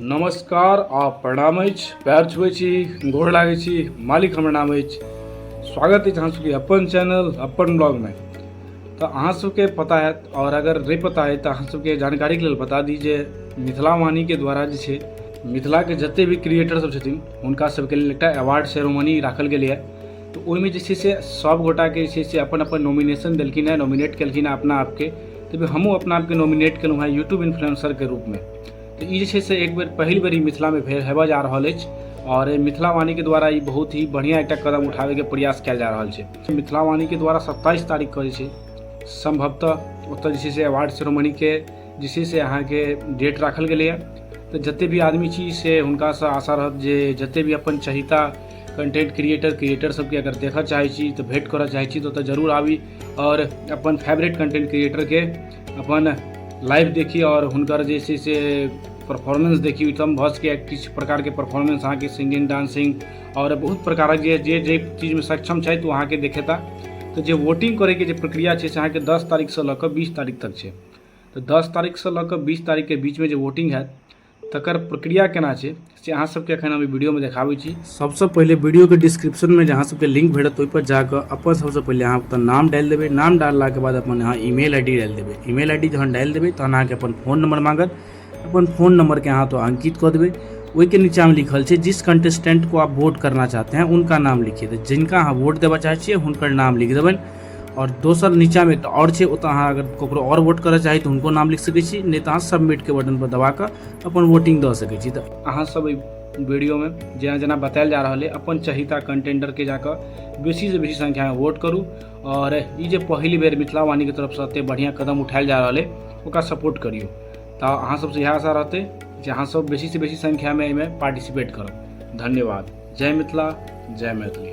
नमस्कार आ प्रणाम अछि पैर छुबै छी गोर लागै छी मालिक हमर नाम अछि स्वागत अछि अहाँ सबके अपन चैनल अपन ब्लॉगमे तऽ अहाँ सबके पता हैत आओर अगर नहि पता है तऽ अहाँ सबके जानकारीके लेल बता दी जे मिथिला वाणीके द्वारा जे छै मिथिलाके जतेक भी क्रिएटर सब छथिन हुनका सबके लेल एकटा अवार्ड सेरोमनी राखल गेलै है तऽ ओहिमे जे छै से सब गोटाके जे छै से अपन अपन नॉमिनेशन देलखिन है नॉमिनेट केलखिन है अपना आपके तऽ हमहूँ अपना आपके नॉमिनेट केलहुँ है यूट्यूब इन्फ्लुएंसरके रूपमे तऽ ई जे छै से एक बेर पहिल बेर ई मिथिलामे भेल हेबऽ जा रहल अछि आओर मिथिलावाणीके द्वारा ई बहुत ही बढ़िआँ एकटा कदम उठाबैके प्रयास कयल जा रहल छै मिथिलावाणीके द्वारा सत्ताइस तारीख कऽ जे छै सम्भवतः ओतऽ जे छै से अवार्ड सेरोमनीके जे छै से अहाँके डेट राखल गेलैए तऽ जतेक भी आदमी छी से हुनकासँ आशा रहत जे जतेक भी अपन चहिता कंटेंट क्रिएटर क्रिएटर सबके अगर देखऽ चाहै छी तऽ भेंट करऽ चाहै छी तऽ ओतऽ जरूर आबी आओर अपन फेवरेट कंटेंट क्रिएटरके अपन लाइव देखी आओर हुनकर जे छै से परफॉर्मेंस देखी ओहिठाम भऽ सकैए किछु प्रकारके परफॉर्मेंस अहाँके सिंगिंग डांसिंग आओर बहुत प्रकारक जे जे जे चीजमे सक्षम छथि ओ अहाँके देखेता तऽ जे वोटिंग करैके जे प्रक्रिया छै से अहाँके दस तारीखसँ लऽ कऽ बीस तारीख तक छै तऽ दस तारीखसँ लऽ कऽ बीस तारीखके बीचमे जे वोटिंग हैत तकर प्रक्रिया केना छै से अहाँ सबके एखन हम वीडियोमे देखाबै छी सबसँ पहिले वीडियोके डिस्क्रिप्शनमे जे अहाँ सबके लिंक भेटत ओहिपर जाकऽ अपन सबसँ पहिले अहाँ अपन नाम डालि देबै नाम डाललाके बाद अपन अहाँ ईमेल आई डी डालि देबै ईमेल आई डी जहन डालि देबै तहन अहाँके अपन फोन नंबर मांगत अपन फोन नंबरके अहाँ तो अंकित कऽ देबै ओहिके नीचामे लिखल छै जिस कंटेस्टेंट को आप वोट करना चाहते हैं उनका नाम लिखिए तऽ जिनका अहाँ वोट देबऽ चाहै छियै हुनकर नाम लिख देबनि आओर दोसर नीचाँमे एकटा आओर छै ओतऽ अहाँ अगर ककरो आओर वोट करऽ चाही तऽ हुनको नाम लिख सकै छी नहि तऽ अहाँ सबमिटके बटनपर दबा कऽ अपन वोटिंग दऽ सकै छी तऽ अहाँ सब एहि वीडियोमे जेना जेना बतायल जा रहल अइ अपन चहिता कंटेंडरके जाकऽ बेसीसँ बेसी संख्यामे वोट करू आओर ई जे पहिल बेर मिथिला वाणीके तरफसँ एतेक बढ़िआँ कदम उठायल जा रहल अइ ओकरा सपोर्ट करियौ तऽ अहाँ सबसँ इएह आशा रहतै जे अहाँ सब बेसीसँ बेसी संख्यामे एहिमे पार्टिसिपेट करब धन्यवाद जय मिथिला जय मैथिली